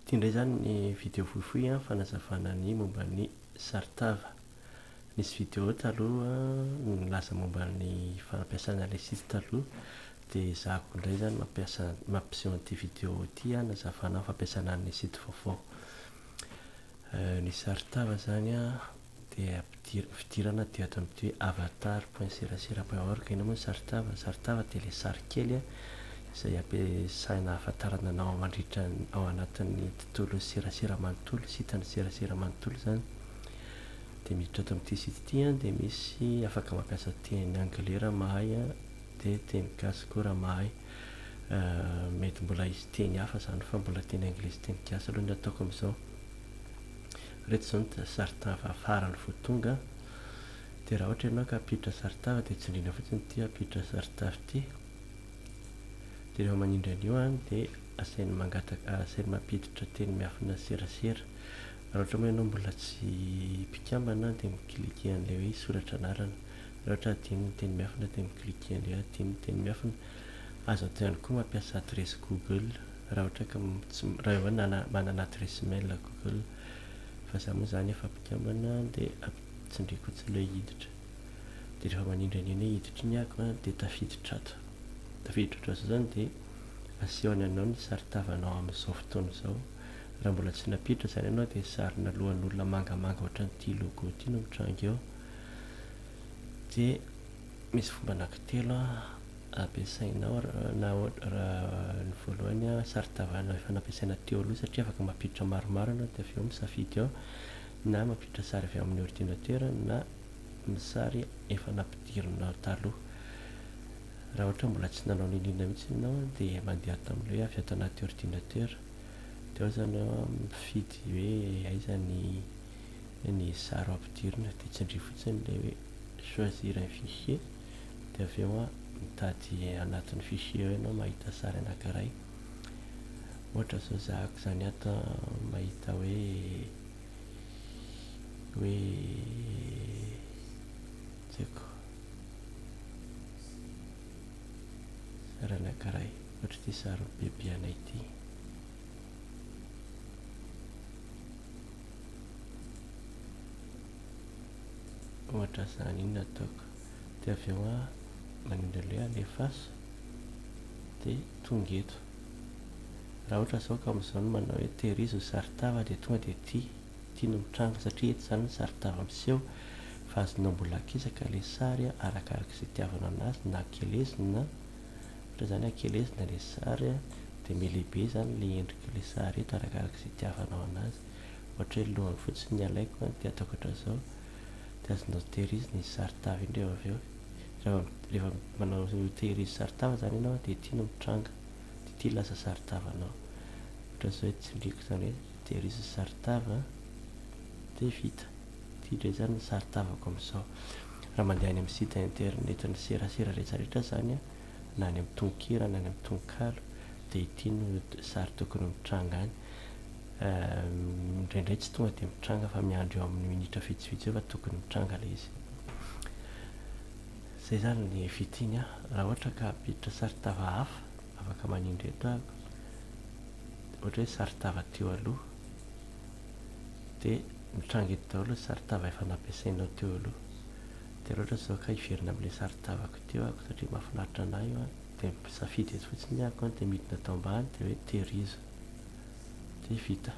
Ity indray izany ny video fohifohy fanazavana ny momba ny saron-tava. Nisy video taloha nilaza momba ny fanampiasana ilay site taloha dia ezahako indray izany mampiasa mampiseho an'ity video ity hanazavana ny fampiasana ny site vaovao. Ny saron-tava izany dia ampidir fidirana aty ato amty hoe avatar point serasera point org enao moa ny saritava ny saritava dia ilay sary kely a izay ampiasaina ahafantarana anao mandritra ny ao anatin'ny tontolon'ny serasera manontolo sitan'ny serasera manontolo izany dia miditra ato amty site ity a dia misy afaka mampiasa teny anglais raha mahay a dia teny gasy koa raha mahay mety mbola hisy teny hafa izany fa mbola teny anglais sy teny gasy aloha ny ataoko amizao Ireto izao ny saron-tava farany vao tonga dia raha ohatra ianao ka hampiditra saron-tava dia tsindriana fotsiny ity hampiditra saron-tava ity dia rehefa manindry an'io an dia asainy mangataka asainy mampiditra teny miafina serasera raha ohatra moa ianao mbola tsy mpikambana an dia mi-cliquer an'ilay hoe soratra anarana raha ohatra adino ny teny miafina dia mi-cliquer an'ilay hoe adino ny teny miafina azo atao ihany koa mampiasa adiresy google Raha ohatra ka tsy raha hoe nana manana adresse mail google fa za moa zany efa mpikambana dia ampitsindriako tsy le hiditra dia rehefa manindranindra hoe hiditry ny ako a dia tafiditra ato tafiditra ohatr'izao zany dia asehony anao ny sary tavanao amin'izao fotoana izao raha mbola tsy nampiditra zany ianao dia sarina lohan'olona mangamanga ohatran'ity logo ity no mitranga eo dia misy fomba anankitelo a ampiasainao na ny voalohany sarontavana efa nampiasaina teo aloha satria afaka mampiditra maromaro ianao dia avy eo misafidy ao na mampiditra sary avy ao amin'ny ordinatera na ny sary efa nampidirinao taloha raha ohatra mbola tsy nanao n'inon'inona mihitsy ianao dia mandeha ato amin'ny hoe avy ato anaty ordinatera dia ao izany ao mifidy hoe aiza ny ny sary ho ampidirina dia tsindrio fotsiny ilay hoe choisir un fichier dia avy eo mitady anatin'ny fichier eo ianao mahita sary anankiray ohatra zao zahako izany ato mahita hoe hoe tseko sary anankiray ohatra ity sary bebe anay ity ohatra izany iny nataoko dia avy eo aho manindry an'ilay alefaso dia tonga eto raha ohatra zao ka amin'izao no manao hoe terizy ny saritava dia tonga dia ety ity no mitranga satria eto izany ny saritava miseho fa azonao mbola akisaka ilay sary arakaraka izay itiavanao anazy na akelezina ohatra izany akelezina ilay sary dia milehibe izany ilay endrik'ilay sary eto arakaraka izay itiavanao anazy ohatra hoe ny lohany fotsiny ny alaiko dia ataoko hatrao izao dia azonao tehirizy ny sarin-tava iny rehefa avy eo rehefa rehefa manao tehirizy sarin-tava zany ianao dia ity no mitranga dia ity lasa sarin-tavanao ohatran'izao hoe tsindriako izany hoe tehirizy ny sarin-tava dia vita ity indray izany ny sarin-tavako amin'izao raha mandeha any amin'ny site internet ny serasera rehetra rehetra izany a na any amin'ny tononkira na any amin'ny tononkalo dia ity no sary tokony mitranga any Uhm indraindray tsy tonga dia mitranga fa miandry eo amin'ny minitra vitsivitsy eo fa tokony mitranga ilay izy. Izay izany ny fitin a! Raha ohatra ka hampiditra sarin-tava hafa afaka manindry eto aho, ohatra hoe sarin-tava teo aloha, dia mitranga eto daholo ny sarin-tava efa nampiasainao teo aloha. Dia raha ohatra izao ka hiverina amin'ilay sarin-tavako teo aho satria mahafinaritra an'ahy io an, dia misafidy eto fotsiny aho an dia midina ato ambany dia hoe tehirizo. Dia vita.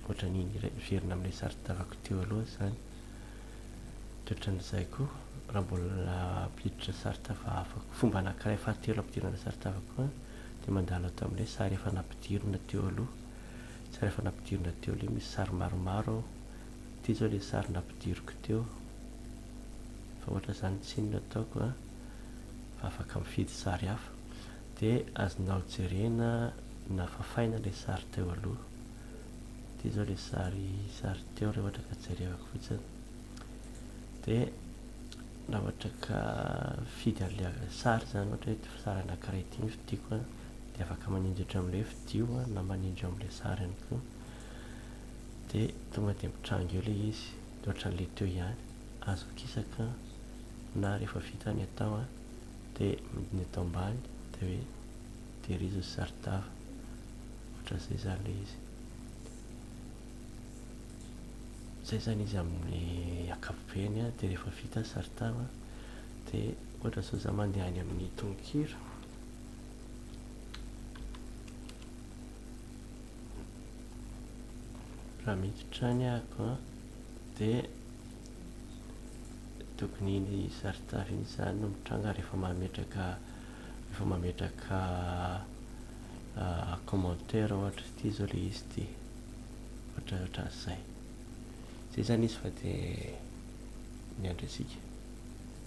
Ohatran'ny niverina amin'ilay sary tavako teo aloha izany. Dia ohatran'izay koa, raha mbola hampiditra sary tava hafa, fomba anankiray fahatelo hampidirana sary tava koa, dia mandalo ato amin'ilay sary efa nampidirina teo aloha. Sary efa nampidirina teo aloha, misy sary maromaro ao. Ity izao ilay sary nampidiriko teo. Fa ohatra izany tsy inona ataoko, fa afaka mifidy sary hafa. Dia azonao jerena Nafafaina ilay sary teo aloha. Ity izao ilay sary sary teo raha ohatra ka jerevako fotsiny. Dia raha ohatra ka fidy an'ilay sary izany ohatra hoe ity sary anankiray ity no fidiko dia afaka manindry ohatra amin'ilay fidio na manindry amin'ilay sary ihany koa. Dia tonga dia mitranga eo ilay izy. Dia ohatra an'ilay teo ihany. Azo akisaka na rehefa vita ny atao dia midina eto ambany dia hoe Tehirizao izay sary tava. Ohatran'izay izany ilay izy. Izay izany izy amin'ny ankapobeny dia rehefa vita ny sary tava dia ohatra izao za mandeha any amin'ny tononkira. Raha miditra any ako dia tokony iny sary tava iny izany no mitranga rehefa mametraka rehefa mametraka commentaire ohatra ity zao le izy ity ohatra ohatran'izay zay zany izy fa de miandry antsika